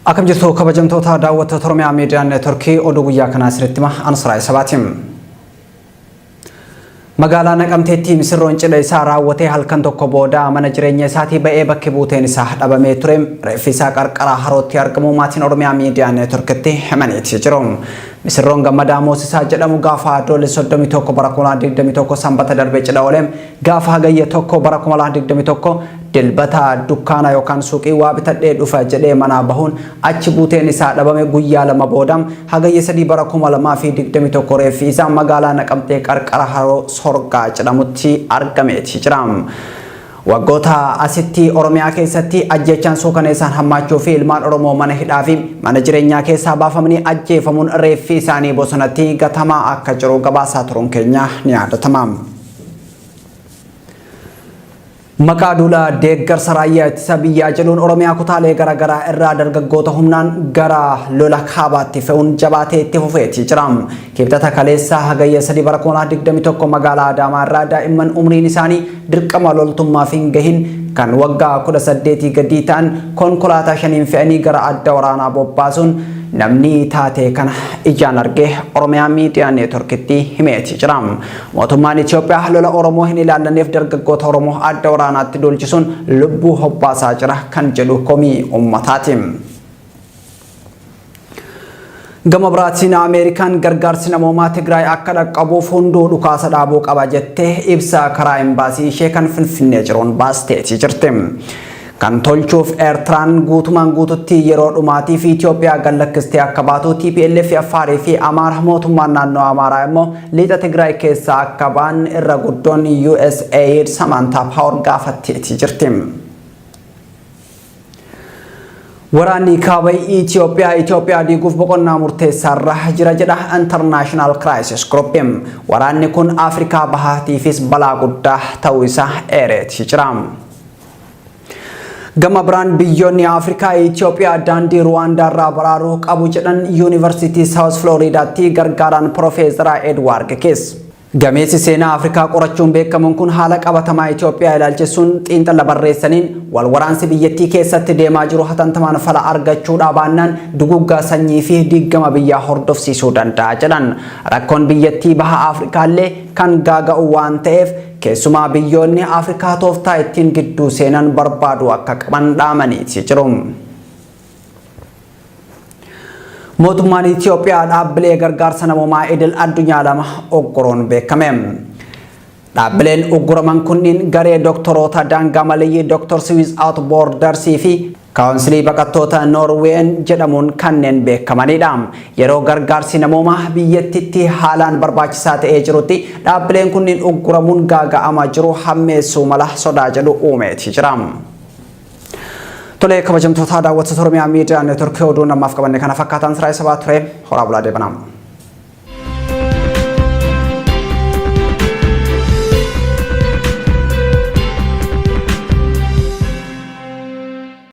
Akkam jirtu kabajamtoota daawwattoota Oromiyaa Miidiyaa Neetworkii oduu guyyaa kanaa isinitti hima Ansaraa Isabaati. Magaalaa Naqamteetti misirroon cidha isaa raawwatee halkan tokko booda mana jireenya isaatii ba'ee bakki buuteen isaa dhabamee ture reeffi isaa qarqara harootti argamu maatiin Oromiyaa Miidiyaa Neetworkitti himaniiti jiru. Misirroon Gammadaa Moosisaa jedhamu gaafa Adoolessa 31 bara 2021 sanbata darbe cidha oole Gaafa Hagayya 1 bara 2021 Dilbata dukkaana yookaan suuqii waa bitadhee dhufa jedhee manaa bahuun achi buuteen isaa dhabame guyyaa lama booda Hagayya 3 bara 2021 reeffi isaa magaalaa Naqamtee qarqara haroo Sorgaa jedhamutti argameeti jira. Waggoota asitti Oromiyaa keessatti ajjeechaan suukaneessaan hammaachuu fi ilmaan Oromoo mana hidhaa fi mana jireenyaa keessaa baafamanii ajjeefamuun reeffi isaanii bosonatti gatamaa akka jiru gabaasaa turuun keenya ni yaadatama. Maqaa duula deeggarsa raayyaa ittisa biyyaa jedhuun Oromiyaa kutaalee garaagaraa irraa dargaggoota humnaan gara lola kaabaatti fe'uun jabaatee itti fufeetii jira. Kibxata kaleessaa hagayya 3 bara 2021 magaalaa Adaamaa irraa daa'imman umriin isaanii dirqama loltummaaf hin gahin kan waggaa 18 gadii ta'an konkolaataa shaniin fe'anii gara adda waraanaa bobbaasuun namni taatee kana ijaan arge Oromiyaa Miidiyaa Neetworkitti himeetii jira. Mootummaan Itoophiyaa lola Oromoo hin ilaallanneef dargaggoota Oromoo adda waraanaatti duulchisuun lubbuu hobbaasaa jira kan jedhu komii uummataati. Gama biraatiin Ameerikaan gargaarsi namoomaa Tigraay akka dhaqqabuuf hunduu dhukaasa dhaabuu qaba jettee ibsa karaa imbaasii ishee kan Finfinnee jiruun baasteetii jirti. kan tolchuuf Eertiraan guutumaan guututti yeroo dhumaatiif Itoophiyaa gad lakkistee akka baatu, tplf Affaarii fi Amaara, mootummaan naannoo Amaaraa immoo lixa Tigraay keessaa akka ba'an irra guddoon USAID Samaantaa Paawor gaafatteetii jirti. Waraanni kaaba Itoophiyaa Itoophiyaa diiguuf boqonnaa murteessaa irra jira jedha International Crisis Group. Waraanni kun Afrikaa Bahaatiifis balaa guddaa ta'uu isaa eereetii jira. Gama biraan biyyoonni Afrikaa Itoophiyaa daandii Ruwaandaa irraa baraaruu qabu jedhan Yuunivarsiitii Saawus Filooriidaatti gargaaraan Pirofeesaraa Edwaard Kees. Gameessi seenaa Afrikaa qorachuun beekamuun kun haala qabatamaa Itoophiyaa ilaalchisuun xiinxala barreessaniin wal waraansi biyyattii keessatti deemaa jiru hatantamaan fala argachuu dhaabaannaan duguuggaa sanyii fi diiggama biyyaa hordofsiisuu danda'a jedhan. Rakkoon biyyattii baha Afrikaallee kan gaaga'u waan ta'eef Keessumaa biyyoonni Afrikaa tooftaa ittiin gidduu seenan barbaaduu akka qaban dhaamaniiti jiru. Mootummaan Itiyoophiyaa dhaabbilee gargaarsa namoomaa idil addunyaa lama ugguraan beekame. Dhaabbileen ugguraman kunniin garee doktoroota daangaa maleeyyii Dr. Siwiis Out Boordarsii fi Kaawunsilii Baqattoota Noorween jedhamuun kanneen beekamanidha. Yeroo gargaarsi namoomaa biyyattiitti haalaan barbaachisaa ta'ee jirutti dhaabbileen kunniin ugguramuun gaaga'ama jiru hammeessuu mala sodaa jedhu uumeeti jira. Tolee kabajamtootaa daawwattoota Oromiyaa Miidiyaa Neetworkii oduun ammaaf qabanne kana fakkaataan siraa isa baa ture horaa bulaa deebanaa.